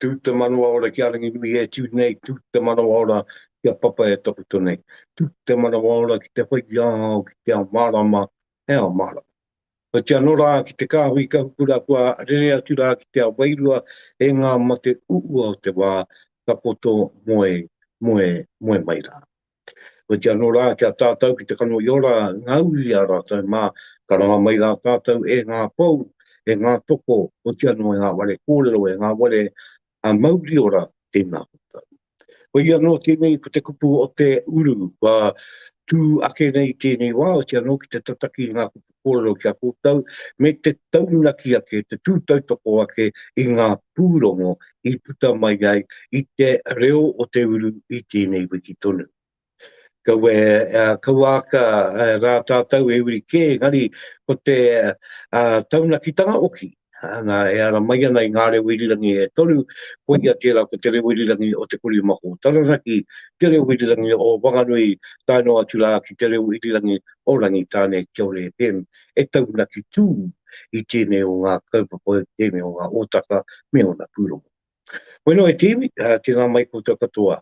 Tū te manawa ora ki a Ranginui e tū nei, tū te manawa ora ki a Papa e takoto nei. Tū te manawa ora ki te whai i a au ki te ao mārama, he ao mārama. Oti anō rā ki te kāhui ka hupu rā kua rere atu rā ki te ao wairua e ngā mate uua o te wā, ka poto moe, moe, moe mai rā. Koiti anō rā ki a tātou ki te kano i ora ngā uri i a rātou, mā, ka ranga mai rā tātou e ngā pou, e ngā toko, oti anō e ngā ware kōrero, e ngā ware a mauri ora, tēnā koutou. Koia anō tēnei ko te kupu o te uru, kua tū ake nei i tēnei wā, oti anō ki te tataki i ngā kupu kōrero ki a koutou, me te taunaki ake, te tūtautoko ake i ngā pūrongo i puta mai ai i te reo o te uru i tēnei wiki tonu. Kaua, kaua aka rā tātou e uri kē, engari ko te taunakitanga oki, Nā, e ara mai ana i ngā reo irirangi e toru, koia tērā ko te reo irirangi o Te Kori Mako, Taranaki, te reo irirangi o Wanganui, tae noa atu rā ki te reo irirangi o Rangitāne, kia ora e Pem, e taunaki tū i tēnei o ngā kaupapa, tēnei o ngā hōtaka me ōna pūrongo. Bueno e te iwi, tēnā mai koutou katoa.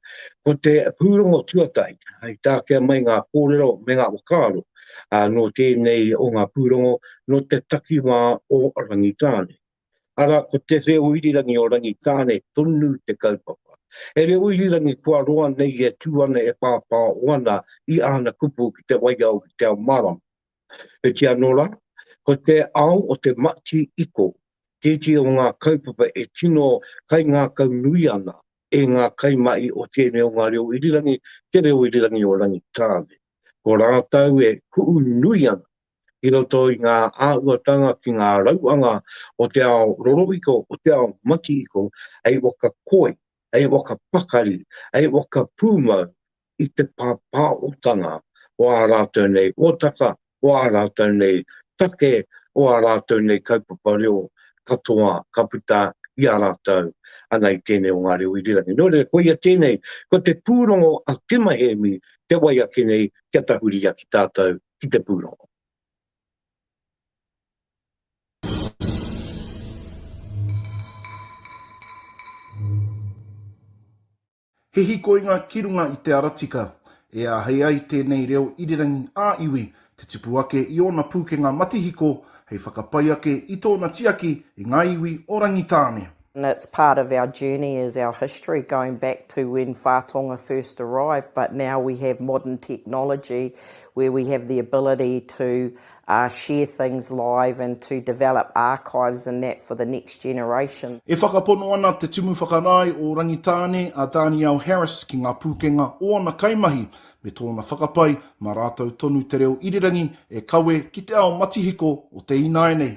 Ko te pūrongo tuatahi, i tākea mai ngā kōrero me ngā whakaaro nō tēnei o ngā pūrongo nō te takiwā o Rangitāne. Arā, ko te reo irirangi o Rangitāne tonu te kaupapa. He reo irirangi kua roa nei e tū ana e pāpāo ana i āna kupu ki te waiao ki te ao mārama. He tia anō rā, ko te ao o te mati iko tētehi o ngā kaupapa e tino kaingākau nui ana e ngā kaimahi o tēnei o ngā reo irirangi, te reo irirangi o Rangitāne. Ko rātou e kuʻu nui ana ki roto i ngā āhuatanga ki ngā rauanga o te ao rorohiko, o te ao mati iko, hei waka koi, hei waka pakari, hei waka pūmau, i te pāpāotanga o ā rātou nei hōtaka, o ā rātou nei take, o ā rātou nei kaupapa reo katoa ka puta i a rātou ana i tēnei o ngā reo irirangi. Nō reira, koia tēnei, ko te pūrongo a Tima Hēmi te wai ake nei kia tahuri ia ki tātou ki te pūrongo. He hīkoinga ki runga i te ara tika. E āhei ai tēnei reo irirangi ā-iwi te tipu ake i ōna pūkenga matihiko hei whakapai ake i tōna tiaki i ngā iwi o Rangitāne. And it's part of our journey is our history going back to when Whā Tonga first arrived but now we have modern technology where we have the ability to a share things live and to develop archives and that for the next generation. E whakapono ana Te Tumu Whakarae o Rangitāne a Danielle Harris ki ngā pūkenga o ana kaimahi me tōna whakapae mā rātou tonu te reo irirangi e kawe ki te ao matihiko o te ināianei.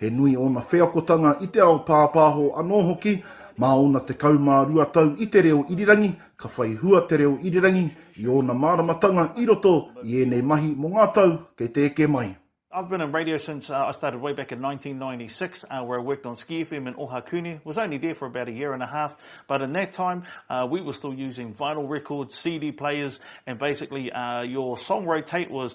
He nui ōna wheakotanga i te ao pāpāho anō hoki. Mā ōna tekau mā rua tau i te reo irirangi, ka whai hua te reo irirangi i ōna māramatanga i roto i ēnei mahi mō ngā tau kei te eke mai. I've been in radio since I started way back in 1996 where I worked on Ski FM in Ohakune, was only there for about a year and a half but in that time we were still using vinyl records, CD players and basically your song rotate was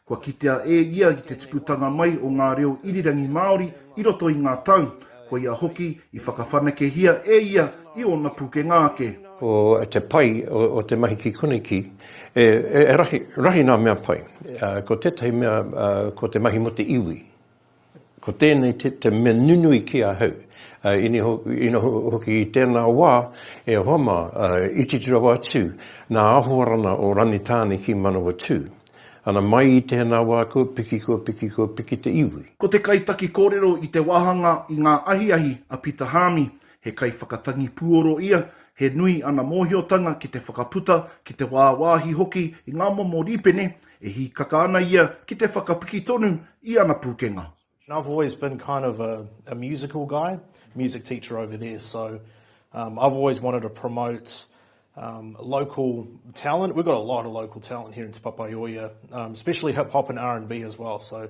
Kua kitea e ia i te tiputanga mai o ngā reo irirangi Māori i roto i ngā tau, koia hoki i whakawhanakehia e ia i ōna pūkenga ake. Ko te pai o te mahi ki konei ki, e rahi, rahi ngā mea pai. Ko tētahi mea, ko te mahi mō te iwi. Ko tēnei te mea nunui ki ahau, ina hoki i tēnā wā, e hoa mā, i titi rawa atu nā Ahoarana o Rangitāne ki Manawatū. Ana mai i tēnā wā kua piki, kua piki, kua piki te iwi. Ko te kaitaki kōrero i te wāhanga i ngā ahiahi a Pita Haami, he kaiwhakatangi puoro ia, he nui ana mōhiotanga ki te whakaputa, ki te wāwāhi hoki i ngā momo rīpene E hīkaka ana ia ki te whakapiki tonu i ana pūkenga. Now I've always been kind of a a musical guy, music teacher over there, so um I've always wanted to promote um local talent, we've got a lot of local talent here in Te Papaioea, um especially hip hop and R and B as well, so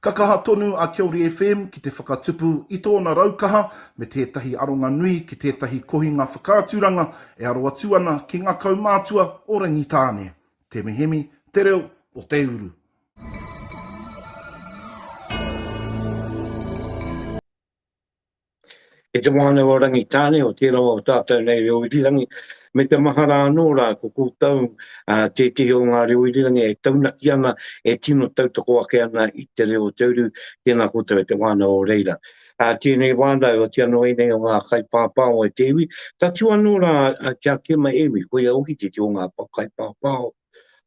Ka kaha tonu a Kiori FM ki te whakatupu i tōna raukaha me tētahi aronga nui ki tētahi kohinga whakaaturanga e aro atu ana ki ngā kaumātua o Rangitāne, Te Mihemi, Te Reo o Te Uru. E te wānau a Rangitāne o tērā o tātou nei reo irirangi, me te mahara anō rā ko koutou tētehi o ngā reo irirangi e taunaki ana, e tino tautoko ake ana i te reo o te uru, tēnā koutou e te wānau o reira. Tēnei wānau, otīa noa ianei o ngā kaipāpāo e te iwi, tatū anō rā ki a Kema Ēmi, koia hoki tētehi o ngā kaipāpāo.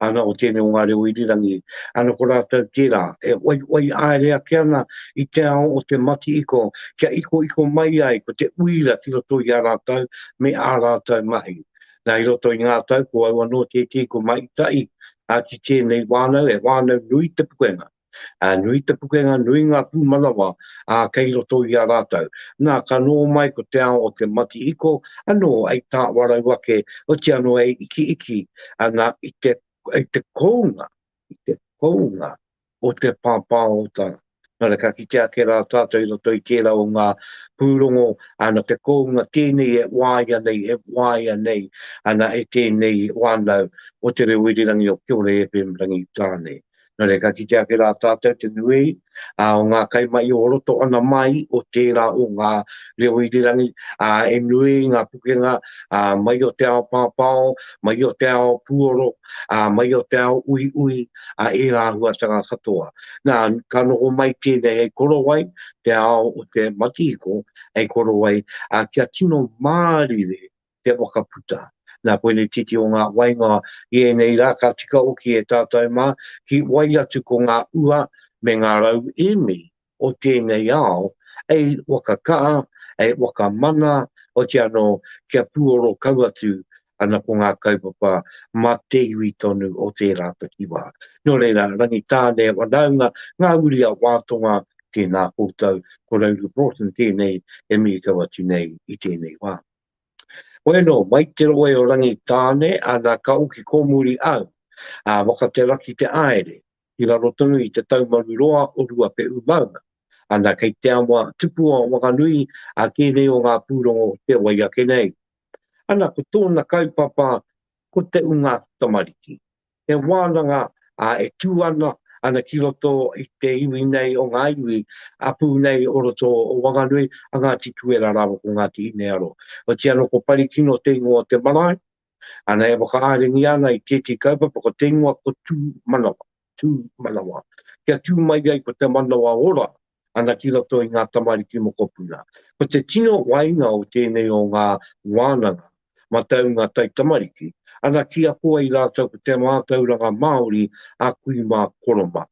ana o tēnei o ngā reo irirangi, ana ko rātou tērā, e whaiwhai āere ake ana i te ao o te matihiko kia ikoiko mai ai ko te uira ki roto i a rātou me ā rātou mahi. Nā, i roto i ngā tau ko au anō tētehi ko Mahi Tahi, ā, ki tēnei wānau, he wānau nui te pukenga. Ā, nui te pukenga, nui ngā pūmanawa, ā, kei roto i a rātou. Nā, ka nō mai ko te ao o te matihiko, anō, hei tāwarau ake, oti anō hei ikiiki, ana, i te, i te kounga, i te kounga o te pāpāota. Nō reira, ka kite ake rā tātou i roto i tērā o ngā pūrongo, ana, te kounga tēnei e waia nei, e waia nei, ana, e tēnei wānau o Te Reo Irirangi o Kiore FM Rangitāne. Nō reira, ka kitea ake rā tātou te nuei o ngā kai mahi o roto ana mai o tērā o ngā reo irirangi, ā, he nui ngā pukenga mai o te ao pāpāo, mai o te ao puoro, ā, mai o te ao uiui, a ērā āhuatanga katoa. Nā, ka noho mai tēnei hei korowai, te ao o te matihiko, hei korowai kia tino mārire te whakaputa. Nā koinei titi o ngā wainga i ēnei rā ka tika hoki e tātou mā ki wai atu ko ngā ua me ngā rau emi o tēnei ao ei whakakaa, ei whakamana, oti anō kia pūoro kau atu ana ko ngā kaupapa mā te iwi tonu o tērā takiwā. Nō reira, Rangitāne, whanaunga, ngā uri a Wātonga, tēnā koutou, ko Rauru Broughton tēnei e mīkau atu nei i tēnei wā. Bueno, mai te roe o Rangi Tane, ana ka oki komuri au, a Wakateraki te aere, i raro tonu i te taumaru roa o Ruape'u maunga, ana kei te awa tupua o Wanganui a kēnei o ngā pūrongo o te wai ake nei. Ana ko tōna kaupapa ko te unga tamariki. He wānanga e tū ana ana ki roto i te iwi nei o ngā iwi a pū nei o roto o Wanganui, a Ngāti Tuera rāua ko Ngāti Hinearoa. Otiia anō ko Parikino te ingoa o te marae, ana e whakaaringia ana i tētehi kaupapa ko te ingoa ko Tūmanawa, Tūmanawa, kia tū mai ai ko te manawa ora ana ki roto i ngā tamariki mokopuna. Ko te tino wainga o tēnei o ngā wānanga mataunga taitamariki, ana ki ako ai rātou ko te mātauranga Māori a kui mā koromā.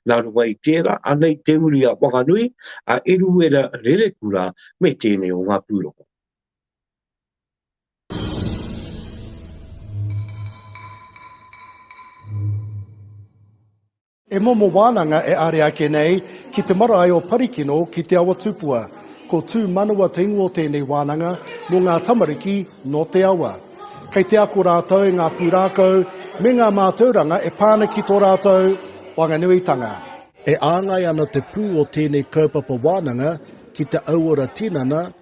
Nā runga i tērā, anei te uri a Whanganui, a Eruera Rerekura me tēnei o ngā pūrongo. E momo wānanga e are ake nei ki te marae o Parikino ki Te Awa Tupua. Ko Tū Manawa te ingoa o tēnei wānanga mō ngā tamariki nō te awa. Kei te ako rātou i ngā pūrākau me ngā mātauranga e pā ana ki tō rātou wanganuitanga. E āngai ana te pū o tēnei kaupapa wānanga ki te auora tinana,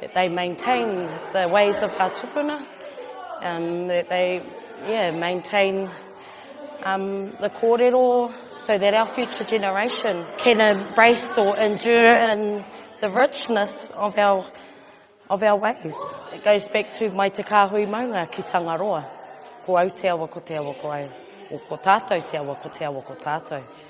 that they maintain the ways of our tupuna, um, that they yeah, maintain um, the kōrero so that our future generation can embrace or endure in the richness of our of our ways. It goes back to mai te kāhui maunga ki Tangaroa. Ko au te awa ko te awa ko au. Ko tātou te awa ko te awa ko tātou.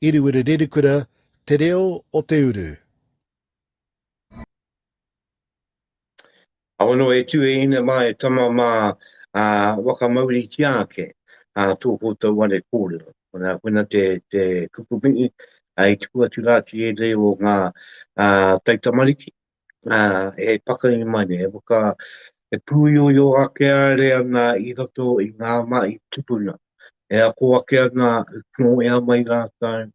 Iriwiri Rerikura, Te Reo o te Uru. Aono e tu e ina ma e tama ma a wakamauri tia ake a to ko to wale kore ona kuna te te kupu mi ai tu atu la ki e de o nga a tai tamariki e pakahi mai nei, e pūioio ake are ana i roto i ngā mahi tupuna, e ako ake ana nō ea mai rātou,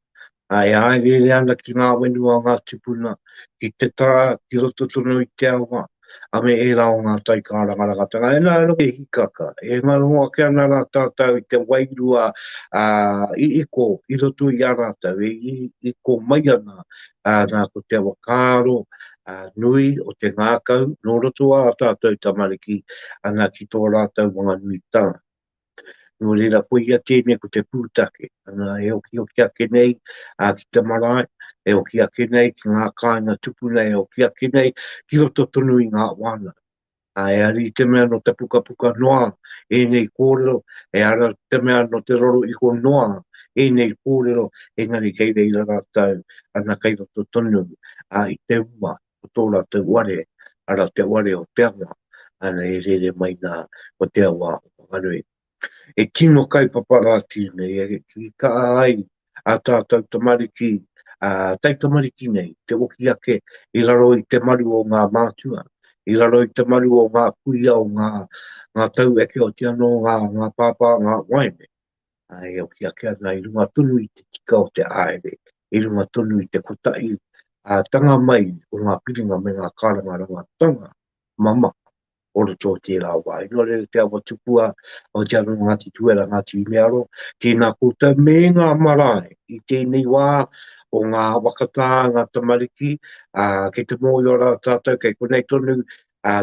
e hāereere ana ki ngā whenua o ngā tupuna, ki te taha, ki roto tonu i te awa, a me ērā o ngā taikārangarangatanga. E nā, e noho hīkaka, e ngaro ake ana rā tātou i te wairua i iko i roto i a rātou, e iko mai ana ā, nā, ko te whakaaro nui o te ngākau nō roto ā tātou tamariki ana ki tō rātou whanganuitanga. Nō reira, koia tēnei ko te pūtake, ana, e okihoki ake nei ki te marae, e oki ake nei ki ngā kāinga tupuna, e oki ake nei ki roto tonu i ngā wānanga. Ā, e ari i te mea nō te pukapuka noa ēnei kōrero, e ara i te mea nō te roro iho noa ēnei kōrero, engari kei reira rātou ana kei roto tonu, ā, i te uma o tō rātou ware, arā, te ware o te awa, ana e rere mai nā, ko te awa o Whanganui. e tino kaupapa rātou nei, e tika ai ā tātou tamariki, ā taitamariki nei, te hoki ake i raro i te maru o ngā mātua, i raro i te maru o ngā kuia, o ngā taueke, oti anō ngā pāpā, ngā waeine, ā, e hoki ake ana i runga tonu i te tika o te haere, i runga tonu i te kotahi ātanga mai o ngā piringa me ngā kārangarangatanga mamaku. Koroto o tērā wā. Inō reira te awa tupu a Aotearoa Ngāti Tuera, Ngāti Umearo, tēnā koutou me ngā marae i tēnei wā o ngā awakatā, ngā tamariki, ā, kei te mōhio rā tātou kei konei tonu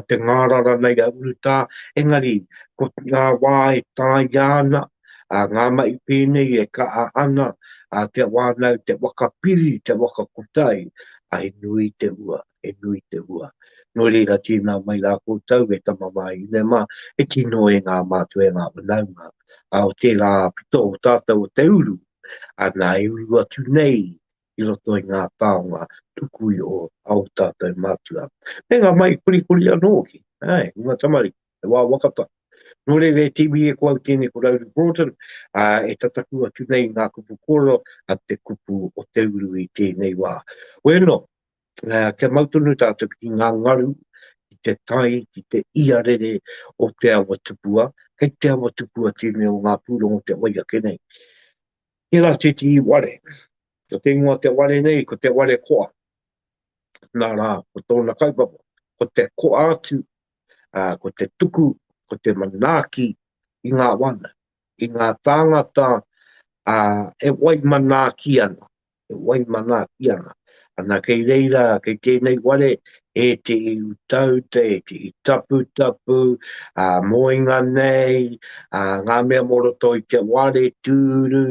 te ngārara nei a urutā, engari ko ngā wā e tāia ana, ā, ngā mahi pēnei e kaha ana, ā, te wānau, te waka piri, te waka kotahi, ā, he nui te hua. e nui te hua. Nō reira, tēnā mai rā koutou e tama wāhine mā, e tino e ngā mātua e ngā whanaunga, ā, o tērā pito o tātou o te uru, ana e uru atu nei i roto i ngā taonga tuku iho a ō tātou mātua. Me ngā mahi korikori anō hoki, āe, i ngā tamariki, he wā waka tahi. Nō reira, e te iwi e ko au tēnei ko Rowley Broughton, ā, e tataku atu nei i ngā kupu kōrero a te kupu o te uru i tēnei wā. Oianō, kia mau tonu tātou ki ngā ngaru, ki te tai, ki te iarere o te awa tupua, kei te awa tupua tēnei o ngā pūrongo te wai ake nei. Tērā tētehi ware, ko te ingoa te ware nei, ko te ware koa. Nā rā, ko tōna kaupapa, ko te koa atu, ko te tuku, ko te manaaki i ngā wana, i ngā tāngata e wai manaaki ana, e wai manaakia ana. Ana kei reira, kei tēnei ware, ētehi utauta, ētehi taputapu, ā, moenga nei, ā, ngā mea mō roto i te ware, tūru,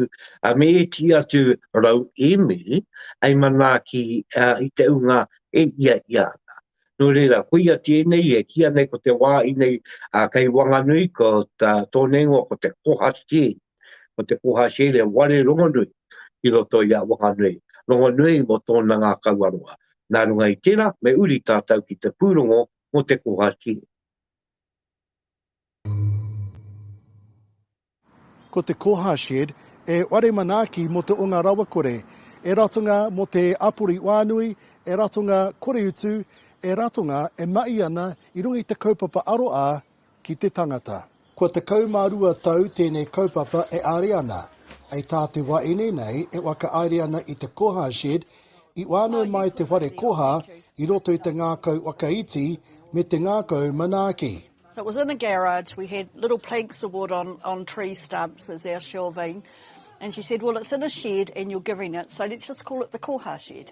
ā, me ētehi atu rauemi hei manaaki ā, i te ūnga e hiahia ana. Nō reira, koia tēnei e kīa nei ko te wā inei, ā, kei Wanganui, ko tā Tōneingoa ko te koha sheds. Ko te koha Sheila ware rongonui ki roto i a Wanganui, rongonui mo tona ngakau aroha. Na runga i tera, me uri tatou ki te purongo mo te koha Sheila. Ko te koha Shed e ware manaaki mo te onga rawakore, e ratonga mo te apori wānui, e ratonga koreutu, e ratonga e mahi ana i runga i te kaupapa aroa ki te tangata. Kua tekau mā rua tau tēnei kaupapa e āre ana. Hei tā te wā ine nei e whakaaere ana i te Koha Shed, i whānau mai te whare koha i roto i te ngākau whakaiti me te ngākau manaaki. So it was in a garage, we had little planks of wood on on tree stumps as our shelving and she said well it's in a shed and you're giving it so let's just call it the Koha Shed.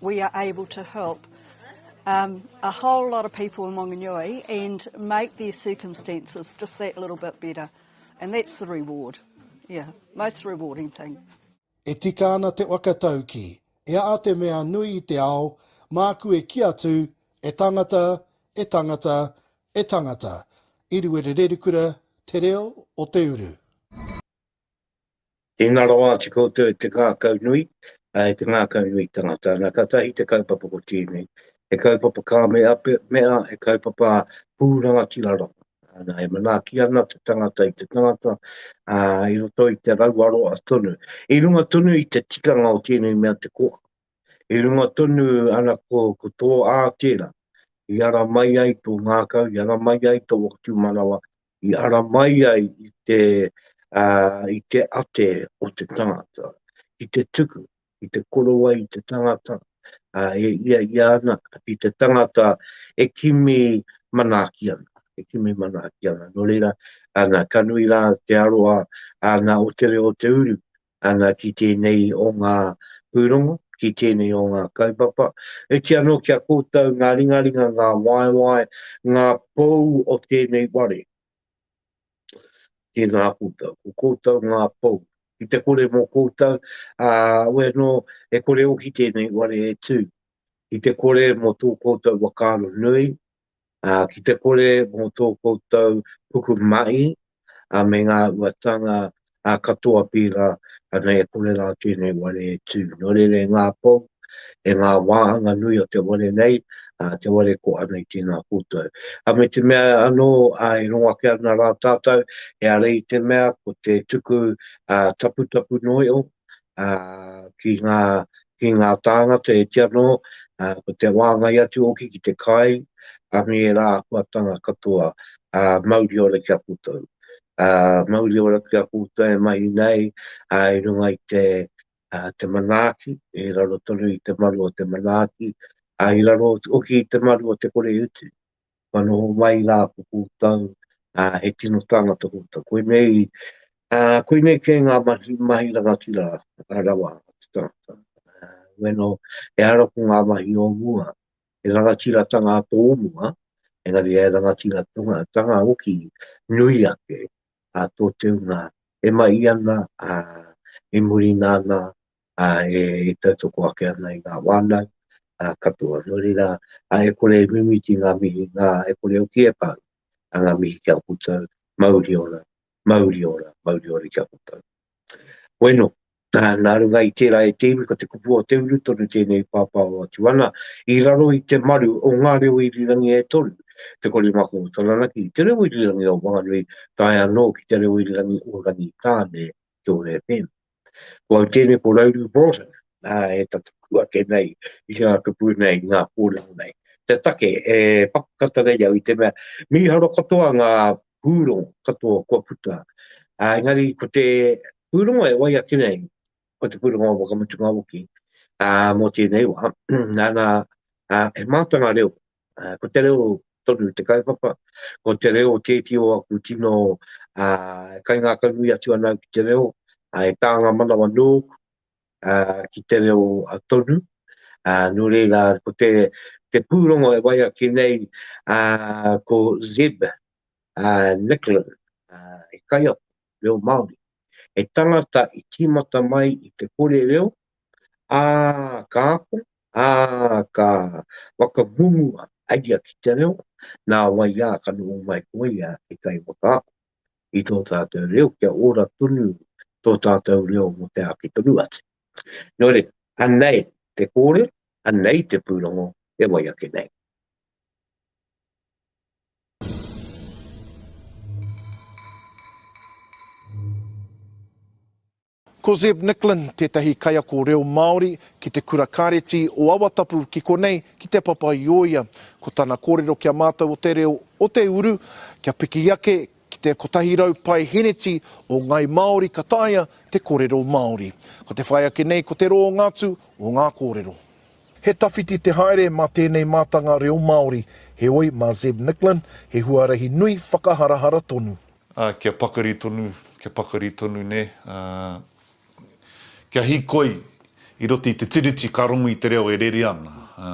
We are able to help a whole lot of people in Wanganui and make their circumstances just that little bit better and that's the reward, yeah, most rewarding thing. E tika ana te whakatauki, e a a te mea nui i te ao, māku e ki atu, e tangata, e tangata, e tangata, i Ruerererukura, te reo o te uru. Tēnā rawa atu koutou e te ngākau nui, ā, e te ngākau nui tangata. Nā, ka tahi te kaupapa ko tēnei, he kaupapa ka mea, mea, he kaupapa pū rangatira rawa. Nā, e manaaki ana te tangata i te tangata, ā, i roto i te rauaroa tonu. I runga tonu i te tikanga o tēnei mea te koa. I runga tonu ana ko, ko tō ātera, i ara mai ai tō ngākau, i ara mai ai tō whakatūmanawa, i ara mai ai i te, uh, i te ate o te tangata, i te tuku, i te korowai i te tangata, uh, e ia i ana, i te tangata e kimi manaki ana, e kimi manaki ana. Nō reira, ana, ka nui rā te aroa ana o te reo o te uru, ana ki tēnei o ngā pūrongo, ki tēnei o ngā kaupapa. Iti anō ki a koutou ngā ringaringa, ngā waewae, ngā pou o tēnei wāre. Tēnā koutou, ko koutou ngā pou. Ki te kore mō koutou, ā, we anō e kore hoki tēnei wāre e tū. Ki te kore mō tō koutou whakaaro nui, Ā, ki te kore mō tō koutou puku mahi, ā, me ngā uatanga, ā, katoa pērā, ana e kore rā tēnei ware e tū. Nō reira e ngā pou, e ngā wāhanga nui o te ware nei, ā, te ware ko ana i tēnā koutou. Ā, me te mea anō, ā, e rongo ake ana rā tātou, e are i te mea ko te tuku, ā, taputapu noio, ki ngā tāngata e ti anō, ko te wāngai atu hoki ki te kai a ngērā āhuatanga katoa, mauri ora ki a koutou. Mauri ora ki a koutou e mahi nei i runga i te manaaki, i raro tonu i te maru o te manaaki, i raro hoki i te maru o te koreutu. kua noho mai rā ko koutou, ā, he tino tāngata koutou. Koinei, ā, koinei kē ngā mahi, mahi rangatira rawa a te tangata. Ā, ueno, ehara ko ngā mahi o mua, he rangatiratanga tō mua, engari he rangatiratanga, tanga hoki nui ake, ā, tō te hunga e mahi ana, ā, e muri nāna, e tautoko ake ana i ngā wānau katoa. Nō reira, e kore e mimiti ngā mihi, ngā, e kore hoki e pau ngā mihi ki a koutou, mauri ora, mauri ora, mauri ora ki a koutou. Bueno, nā runga i tērā e te iwi, ko te kupu o te uru tonu tēnei pāpāho atu ana, i raro i te maru o ngā reo irirangi e toru, te korimako o Taranaki, te reo irirangi o Whanganui, tae anō ki te reo irirangi o Rangitāne, ki tō FM. Ko au tēnei ko Rauru Broughton, ā, e tata pū ake nei i ngā kupu nei, i ngā kōrero nei. Te take e pakakata nei au i te mea, mīharo katoa ngā pūrongo katoa kua puta, ā, engari ko te pūrongo e wai ake nei, ko te pūrongo o Whakamutunga Oki, ā, mō tēnei wā, nana, ā, he mātanga reo Ko te reo tonu te kaupapa, ko te reo tēti o aku tino kaingākaunui atu ana au ki te reo, he tānga manawa nōku ki te reo tonu. Nō reira, ko te pūrongo e wai ake nei ko Zeb Nicklin, he kaiako reo Māori, he tangata i tīmata mai i te kore reo, Ā, ka koe, ā, ka whakahungua a ia ki te reo, nā wai ā, ka noho mai ko ia e whai whakaako i tō tātou reo kia ora tonu tō tātou reo mō te āki tonu atu. Nō reira, anei te kōrero, anei te pūrongo e wai ake nei. Ko Zeb Nicklin tētahi kaiako reo Māori ki te Kura Kāreti o Awatapu ki konei ki Te Papa-i-ōia. Ko tana kōrero ki a mātou o te reo o te uru, kia piki ake ki te 100 paeheneti o Ngai Māori ka taea te korero Māori. Ko te whai ake nei ko te rōnga atu o ngā kōrero. He tawhiti te haere mā tēnei mātanga reo Māori, heoi mā Zeb Nicklin he huarahi nui whakaharahara tonu. Ā, kia pakari tonu, kia pakari tonu, nē, ā, kia hīkoi i roto i te Tiriti ka rongu i te reo e rere ana, ā,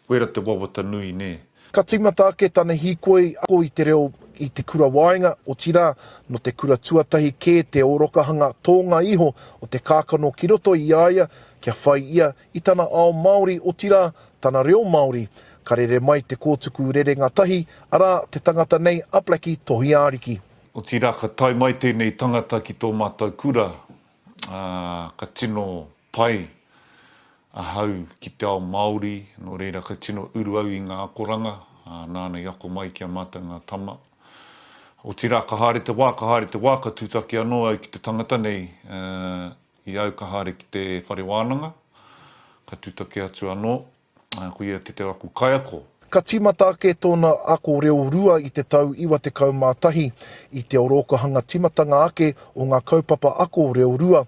koira te wawata nui, nē. Ka tīmata ake tana hīkoi ako i te reo i te kura waenga, otirā, nō te kura tuatahi kē te ōrokahanga tōnga iho o te kākano ki roto i a ia kia whai ia i tana ao Māori, otirā, tana reo Māori, ka rere mai te kōtuku rerenga tahi, arā, te tangata nei a Blackie Tohiaariki. Otirā, ka tae mai tēnei tangata ki tō mātou kura, ā, ka tino pai ahau ki te ao Māori, nō reira, ka tino uru au i ngā akoranga, ā, nāna i ako mai ki a mātou ngā tama. Otirā, ka haere te wā, ka haere te wā, ka tūtaki anō au ki te tangata nei, ā, I au ka haere ki te whare wānanga, ka tutaki atu anō, ā, ko ia te te aku kaiako. Ka tīmata ake tōna ako reo rua i te tau 91, i te orookahanga tīmatanga ake o ngā kaupapa ako reo rua,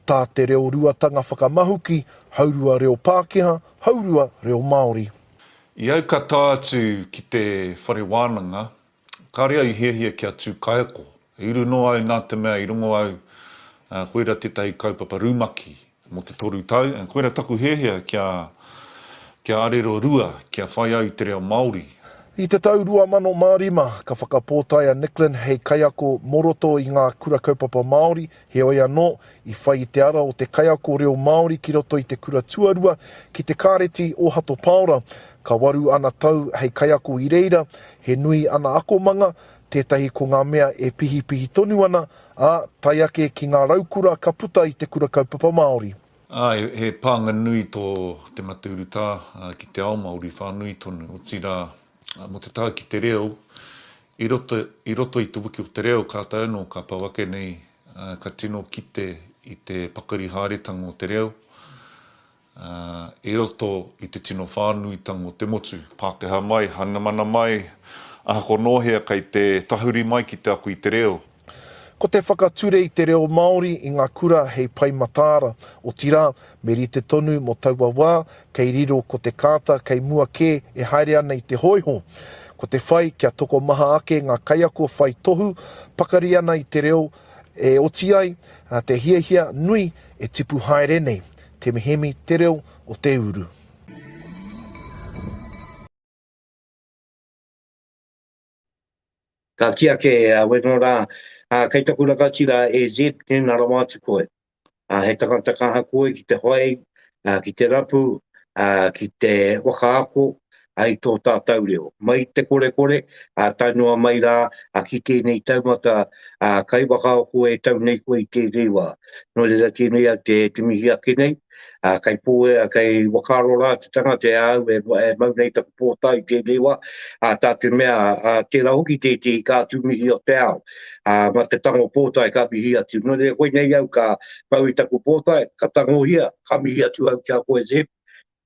tā te reo ruatanga whakamahuki, haurua reo Pākehā, haurua reo Māori. I au ka tae atu ki te whare wānanga, Karea i hiahia kia tu kaiako, i uru noa au na te mea i rongo au koira tetahi kaupapa rumaki mo te toru tau, koira taku hiahia kia kia arero rua kia whai au i te reo Maori. I te tau 2005 ka whakapōtae a Nicklin hei kaiako mo roto i ngā Kura Kaupapa Māori Heoi anō, i whai i te ara o te kaiako reo Māori ki roto i te kura tuarua ki te Kāreti o Hato Paora. Ka waru ana tau hei kaiako i reira, he nui ana akomanga, tētahi ko ngā mea e pihipihi tonu ana, ā, tae ake ki ngā raukura ka puta i te Kura Kaupapa Māori. Ā, he pānga nui tō Te Mataurutā ki te ao Māori whānui tonu, otirā Mō te tae ki te reo, i roto, i roto i te wiki o te reo, ka taea anō, ka pau ake nei, ka tino kite i te pakari haeretanga o te reo, ā, i roto i te tino whānuitanga o te motu. Pākehā mai, Hainamana mai, ahakoa nō hea kei te tahuri mai ki te ako i te reo, Ko te whakature i te reo Māori i ngā kura hei Pai Mataara, otirā, me rite tonu mō taua wā, kei riro ko te kāta kei mua kē e haere ana i te hōiho. Ko te whai kia tokomaha ake ngā kaiako whai tohu pakari ana i te reo e oti ai te hiahia nui e tipu haere nei, te mihemi te reo o te uru. Ka kī ake a Weno rā, Ā, kei taku rangatira e Zed tēnā rawa atu koe. Ā, he tangata ka aha koe ki te whai, ā, ki te rapu, ā, ki te whakaako, ā, i tō tātou reo. Mai i te korekore, ā tae noa mai rā, ā, ki tēnei taumata, ā, kai whakaako e tau nei koe i tēnei wā. Nō reira tēnei au te mihi ake nei, Ā, kei pō, kei whakaaro rā te tangata e āu e mau nei taku pōtae i tēnei wā, ā, tā te mea, ā, tērā hoki tētehi ka atu mihi o te ao, ā, mā te tango pōtae ka mihi atu. Nō reira koinei au ka pau i taku pōtae, ka tangohia, ka mihi atu au ki a koe, Zeb,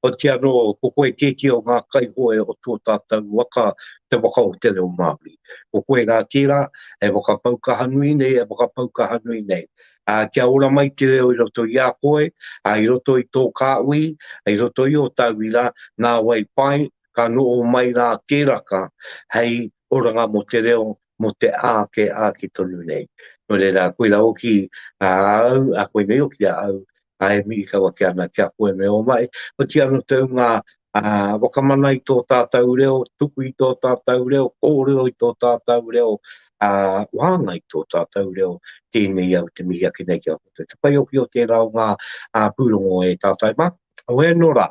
otirā anō ko koe tētehi o ngā kaihoe o tō tātou waka, te waka o te reo Māori. Ko koe rā tērā e whakapau kaha nui nei, e whakapau kaha nui nei. ā, kia ora mai te reo i roto i a koe, ā, i roto i tō kāhui, i roto i ō tauira, nāwai pai, ka noho mai rā tēraka hei oranga mō te reo, mō te āke, āke tonu nei. Nō reira, koira hoki a au, a koinei hoki a au, a e mihi kawa ki ana, ki a koe me o mai, oti ano tau nga wakamana i to tatou reo, tuku i to tatou reo, korero i to tatou reo, a wahanga i to tatou reo, tenei au te mihi ake nei ki a koutou. Te pai hoki o tera o nga purongo e tatai ma, oe ano ra,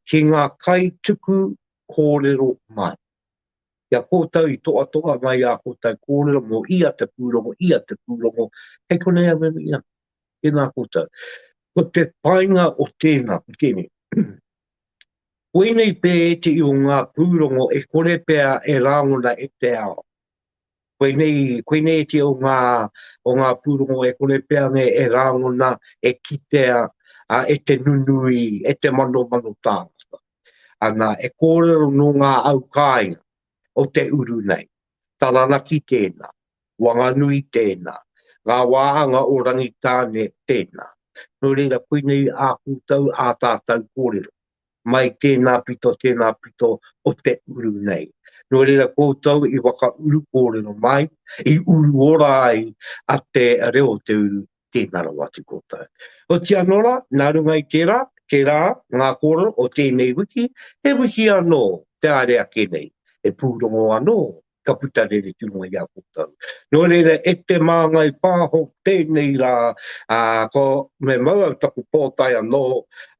ki nga kai tuku korero mai, ki a koutou i toa toa mai a koutou korero mo ia te purongo, ia te purongo, kei konei au e mihi ana. Tēnā koutou. Ko te painga o tēnā, ko tēnei. Koinei pē ētehi o ngā pūrongo e kore pea e rāngona e te ao. Koinei, koinei ētehi o ngā, o ngā pūrongo e kore pea me e rāngona, e kitea, a, e te nunui, e te manomano tāngata. Ana, e kōrero nō ngā au kāinga o te uru nei. Taranaki tēnā. Wanganui tēnā, ngā wāhanga o Rangitāne tēnā. Nō reira, koinei ā koutou, ā tātou kōrero. Mai tēnā pito, tēnā pito o te uru nei. Nō reira, koutou i whakauru kōrero mai, i uru ora ai a te reo o te uru, tēnā rawa atu koutou. Oti anō rā, nā runga i tērā, tērā ngā kōrero o tēnei wiki, he wiki anō te haere ake nei, he pūrongo anō ka puta rere tino i a koutou. Nō reira, e te māngai pāho tēnei rā, ā, ko, me mau au taku pōtae anō,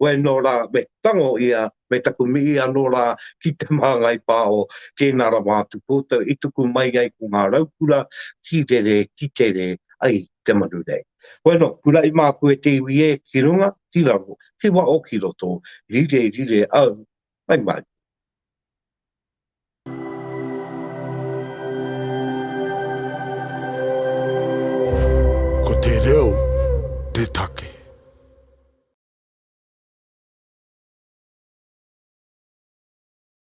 wai nō rā, me tango ia, me taku mihi anō rā ki te māngai pāho, tēnā rawa atu koutou i tuku mai ai ko ngā raukura ki rere, ki tere, ai te manu nei. Bueno, kuraʻi māku e te iwi ē, ki runga, ki raro, ki waʻo, ki roto, rire, rire au, mai mātou. Ko te reo te take.